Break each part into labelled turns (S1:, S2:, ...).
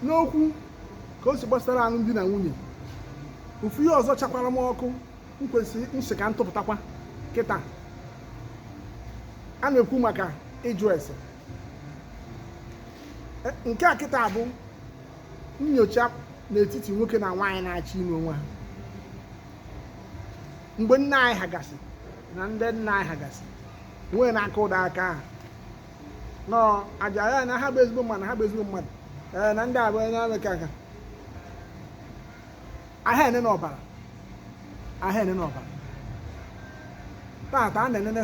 S1: n'okwu ka o si gbasara alụmdi na nwunye ofu ihe ọzọ chakwara m ọkụ m sị ka m tụpụtakwa kịta a na-ekwu maka ịjụ ese E, nke a kịta bụ nyocha n'etiti nwoke na nwaanyị na-achọ ịnụ onwe ha mgbe nna anyị ha gasị na ndị nna anyị ha gasị nwee na-aka ụda aka ahụ nọ aja ya na ha bụ ezigbo mmadụ ha bụ ezigbo mmadụ ee na ndị abụọ onye amị ka nka aha enene ọbara aha enene ọbara tata a na-enene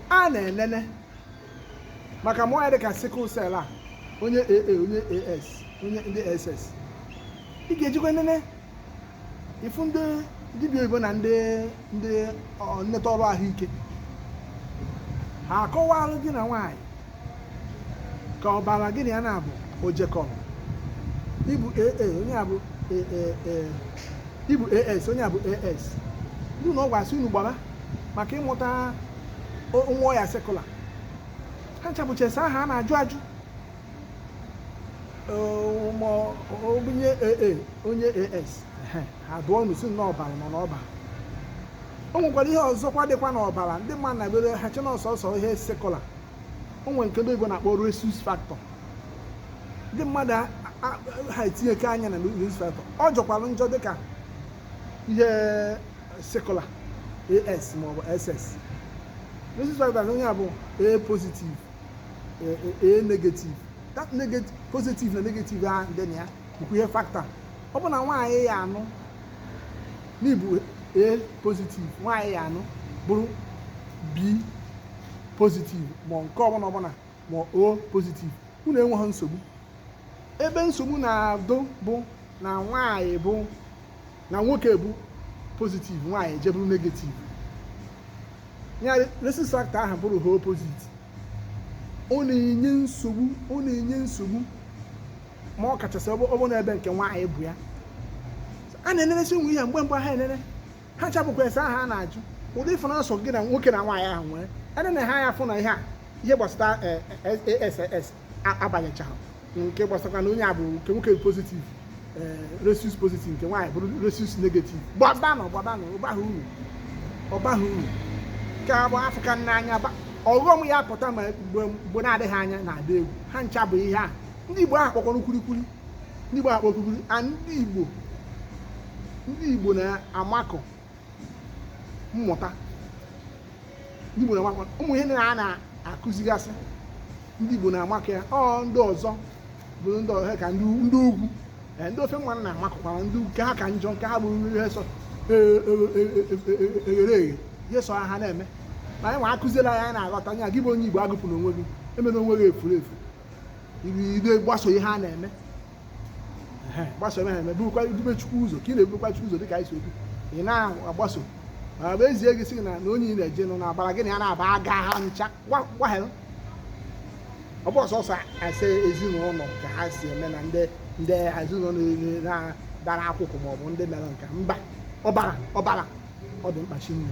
S1: a na-enene maka ụmụ ọya dị ka sickle cell a onye AA onye AS onye ndị SS ị ga-ejekwa nene ịfụ ndị dibịa oyibo na ndị ndị nleta ọrụ ahụike ha akọwalụ gị na nwaanyị ka ọbara gị na ya na-abụ ojekọrọ ị bụ AA onye a bụ ị bụ AS onye a bụ AS ndị ụlọ ọgwụ asị unu gbara maka ịmụta nwa ọya sickler ha ncha bụcha ese ahụ a na-ajụ ajụ onye AA onye AS ha dum si n'ọbara nọ n'ọbara o nwekwara ihe ọzọkwa dịkwa n'ọbara ndị mmadụ na-abịa ha chee na ọ sọsọ ihe sickler o nwere nke ndị oyibo na-akpọ rhesus factor ndị mmadụ ha etinyeke anya na rhesus factor ọ jọkwara njọ dịka ihe sickler AS maọbụ SS rhesus factor onye a bụ A positive eh, eh, A negative that negative positive na negative ahụ dị na ya bụkwa ihe factor ọ bụ na nwaanyị ị ya-anụ na ị bụ A positive nwaanyị ị ya-anụ bụrụ B positive ma nke ọbụla ọbụla ma O positive unu enweghị nsogbu ebe nsogbu na-adụ bụ na nwaanyị bụ na nwoke bụ positive nwaanyị ejee bụrụ negative ya rhesus factor ahụ bụrụ ha opposite ọ na-enye nsogbu ọ na-enye nsogbu ma ọ kachasị ọ bụ na ebe nke nwaanyị bụ ya a na-eneresi nwe ihe mgbe mgbe ha enene ha ncha bụkwa ese ahụ a na-ajụ ụdị ịfụ na-asọ gị na nwoke na nwaanyị ahụ nwere ene na ha ya fụ na ihe a ihe gbasara eh, eh, eh, AS abanyechaghị nke gbasakwa na onye a bụ nke nwoke positive eh, rhesus positive nke nwaanyị bụrụ rhesus negative gbabanụ gbabanụ ọ baghị uru ọ baghị uru nke bụ afụka n'anya ọghọm ya-apụta mgbe na-adịghị anya na-adị egwu ha ncha bụ ihe a ndị Igbo ahụ kpọkwara kwurikwuri ndị Igbo ahụ kpọ kwurikwuri a ndị Igbo ndị Igbo na-amakọ mmụta ndị Igbo na-amakwa ụmụ ihe na a na-akụzigasị ndị Igbo na-amakọ ya ọ ndị ọzọ bụ ndị ọzọ ka ndị ugwu eh, ndị ofe mmanụ na-amakụkwara ndị nke ha ka njọ nke ha bụrụ nri esọ eghere eghe ihe sọ ha na-eme na anyị nwa akụziela ya anyị na-aghọta ya gị bụ onye Igbo agụpụna onwe gị emena onwe gị efuru efu ido gbaso ihe ha na-eme gbaso ha eme burukwa dube chukwu ụzọ ka ị na-ebukwa chukwu ụzọ dịka anyị si ekwu ị na-agbaso ma bụ ezie gị sị na na onye ị na-eje nọ na-agbara gị na ya na-aba aga ha ncha gwaghel ọ bụ ọsọsọ ase ezinụlọ ka ha si eme na ndị ndị ezinụlọ na-dara akwụkwọ maọbụ ndị mere nka mba ọbụla ọbụla ọ dị mkpa shinne